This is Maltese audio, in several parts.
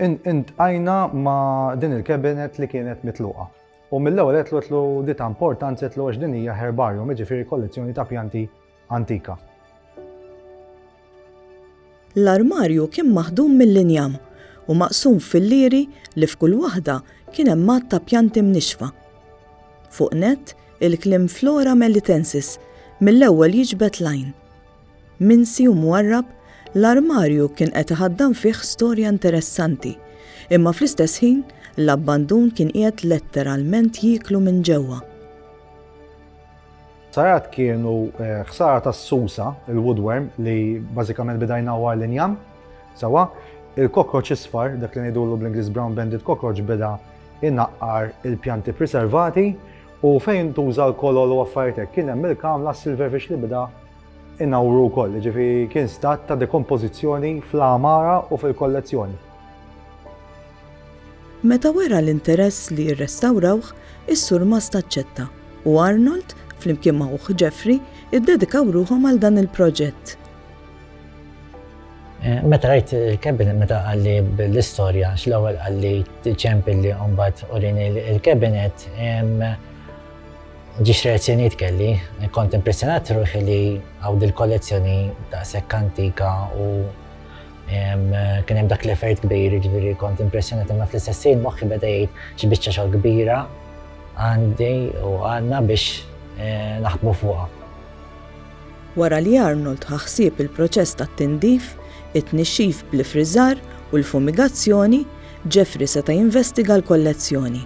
Intqajna ma' din il-Cabinet li kienet mitluqa u mill-ewwel għedtlu di ta' importanza għedtlu għax din hija herbarium, jiġifieri kollezzjoni ta' pjanti antika. L-armarju kien maħdum mill-injam u maqsum f'fillieri li f'kull waħda kien hemm għadd ta' pjanti mnixxfa. Fuq nett, il-kliem Flora Melitensis mill-ewwel jiġbed l-għajn. Minsi u mwarrab, l-armarju kien qed iħaddan fih storja interessanti, imma fl-istess ħin, l-abbandun kien qiegħed letteralment jieklu minn ġewwa. Ħsarat kienu ħsara tas-susa, il-woodworm, li bażikament beda jnawwar l-injam, sewwa, il-cockroach isfar, dak li ngħidulu bl-Ingliż brown banded cockroach, beda jnaqqar il-pjanti priservati u fejn intuża l-kolol u affarijiet hekk, kien hemm il-kamla silverfish li beda Inawru wkoll, jiġifieri kien stat ta' dekompożizzjoni fl-għamara u fil-kollezzjoni. Meta wera l-interess li jirrestawrawh, is-surmast aċċetta, u Arnold, flimkien ma' ħuh Jeffrey, iddedikaw ruħhom għal dan il-proġett. Meta rajt il-cabinet, meta qalli bl-istorja, għax l-ewwel qalli ċempilli u mbagħad urini l-cabinet, Ġiex reazzjonijiet kelli, kont impressjonat ruħi li hawn dil-kollezzjoni daqshekk antika u kien hemm dak l-effert kbir, jiġifieri kont impressjonat imma fl-istess ħin moħħi beda jgħid xi biċċa xogħol kbira għandi u għandna biex eh, naħdmu fuqha. Wara li Arnold ħaħsieb il-proċess tat-tindif, it-tnixxif bl-ifriżar u l-fumigazzjoni, Jeffrey seta' jinvestiga l-kollezzjoni.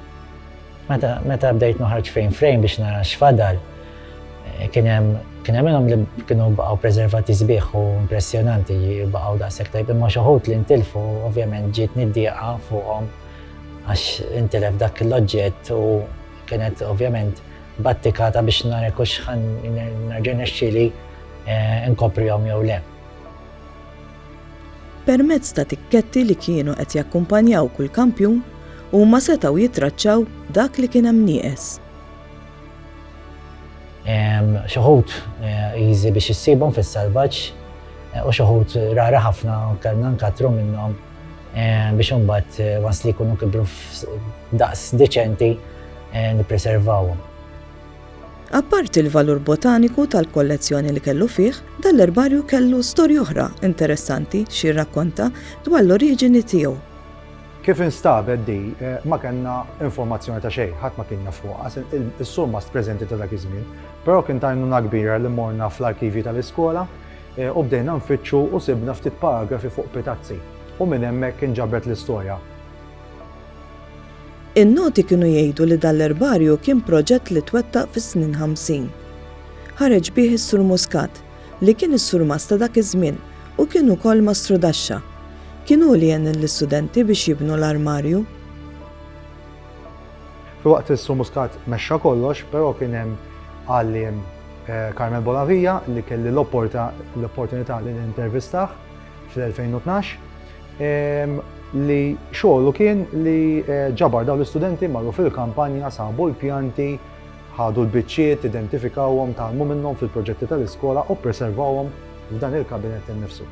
Meta meta bdejt noħarġ frame frame biex nara x'fadal, eh, kien hemm kien hemm minnhom li kienu baqgħu preservati sbieħ u impressjonanti baqgħu daqshekk tajb imma xi wħud li ntilfu ovvjament ġiet niddieqa fuqhom għax intilef dak l-oġġett u kienet ovvjament battikata biex nara kux ħan nerġa' nexxili eh, nkoprihom jew le. Permezz ta' tikketti li kienu qed jakkumpanjaw kull kampjun, huma setgħu jittraċċaw dak li kien hemm nieqes. Xi wħud easy biex issibhom fis-salvaġġ u xi wħud rari ħafna kellna nkattru minnhom biex imbagħad once li jkunu kibru f'daqs deċenti nippreservawhom. Apparti l-valur botaniku tal-kollezzjoni li kellu fih, dan l-erbarju kellu storja oħra interessanti xi jirrakkonta dwar l-oriġini tiegħu. Kif instabet di, ma kellna informazzjoni ta' xejn, ħadd ma kien jaf fuqha, is-surmast preżenti ta' dak iż-żmien, però kien ta' għajnuna kbira li morna fl-arkivji tal-iskola u bdejna nfittxu u sibna ftit paragrafi fuq pitazzi u minn hemmhekk inġabret l-istorja. In-noti kienu jgħidu li dan l-erbarju kien proġett li twettaq fis-snin ħamsin. Ħareġ bih is-Sur Muscat, li kien is-Surmast ta' dak iż-żmien u kien ukoll Mastru Daxxa. Kien hu li għen lill-istudenti biex jibnu l-armarju. Filwaqt li s-Sur Muscat mexxa kollox, però kien hemm għalliem Carmel Bonavia li kelli l-opportunità li nintervistah. fl-2012 li xogħlu kien li eh, ġabar dawn l-istudenti marru fil-kampanja sabu l-pjanti ħadu l-biċċiet, identifikawhom, talmu minnhom fil-proġetti tal-iskola u preservawhom f'dan il-kabinet innifsu.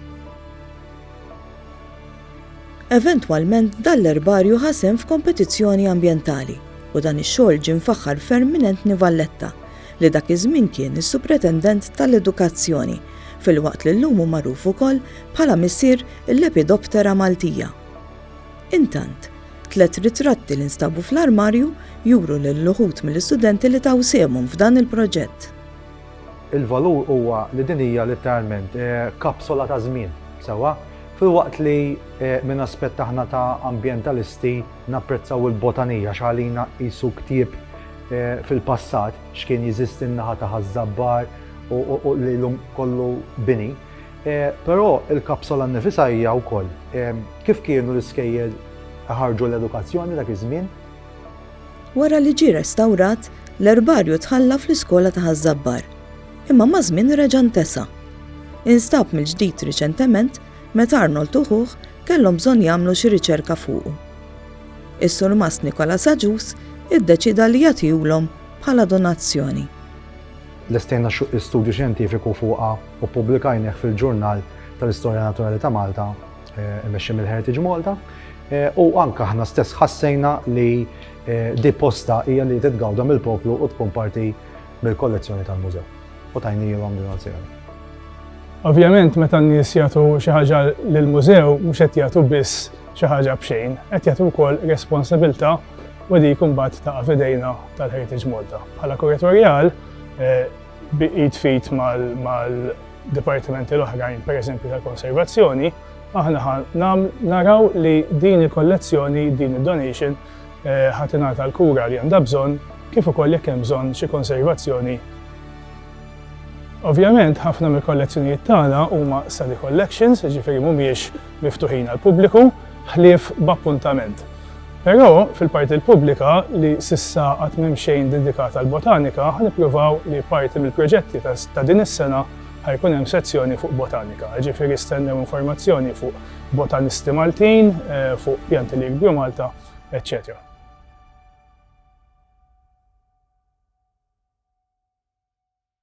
Eventwalment dan l-erbarju ħasem f'kompetizzjoni ambjentali u dan ix-xogħol ġie mfaħħar ferm minn Entni Valletta li dak iż-żmien kien is-Supretendent tal-Edukazzjoni, filwaqt li llum hu magħruf ukoll bħala missier il-Lepidoptera maltija. Intant, tliet ritratti li nstabu fl-armarju juru lil uħud mill-istudenti li taw sehemhom f'dan il-proġett. Il-valur huwa li din hija litteralment kapsola ta' żmien, sewwa? Filwaqt li minn aspett aħna ta' ambjentalisti, Napprezzaw il-Botany għax għalina qisu ktieb fil-passat x'kien jeżisti n-naħa ta' Ħaż-Żabbar u li llum kollu bini. Però il-kapsola nnifisha hija wkoll kif kienu l-iskejjel iħarrġu l-edukazzjoni dak iż-żmien. Wara li ġie restawrat, l-erbarju tħalla fl-iskola ta' Ħaż-Żabbar, imma maż-żmien reġa' ntesa. Instab mill-ġdid riċentement Meta Arnold u ħuh kellhom bżonn jagħmlu xi riċerka fuqu. Is-Surmast Nicholas Agius iddeċieda li jagħtihulhom bħala donazzjoni. Lestejna studju xjentifiku fuqha u ppubblikajnieh fil-Ġurnal tal-Istorja Naturali ta' Malta eh, imexxi mill-Heritage Malta eh, u anke aħna stess ħassejna li eh, di posta hija li titgawda mill-poplu u tkun parti mill-kollezzjoni tal-mużew. u tajnielhom lil Oziel. Ovvjament meta n-nies jagħtu xi ħaġa lill-mużew mhux qed jagħtu biss xi ħaġa b'xejn, qed jagħtu wkoll responsabilità u dik imbagħad ta' fidejna tal-Heritage Malta. Bħala kuratorjal eh, bi id fit mal-dipartimenti l-oħrajn, pereżempju tal-konservazzjoni, aħna naraw li din il-kollezzjoni, din id-donation, ħa tingħata l-kura li għandha bżonn kif ukoll jekk hemm bżonn xi konservazzjoni. Ovvjament, ħafna mill-kollezzjonijiet tagħna huma study collections, jiġifieri mhumiex miftuħin għall-pubbliku, ħlief b'appuntament. Però, fil-parti l-pubblika, li s'issa għad m'hemm xejn dedikat għall-botanika, ħa nippruvaw li parti mill-proġetti ta' din is-sena ħa jkun hemm sezzjoni fuq botanika, jiġifieri stennew informazzjoni fuq botanisti Maltin, fuq pjanti li jinkbru Malta, eċċetera.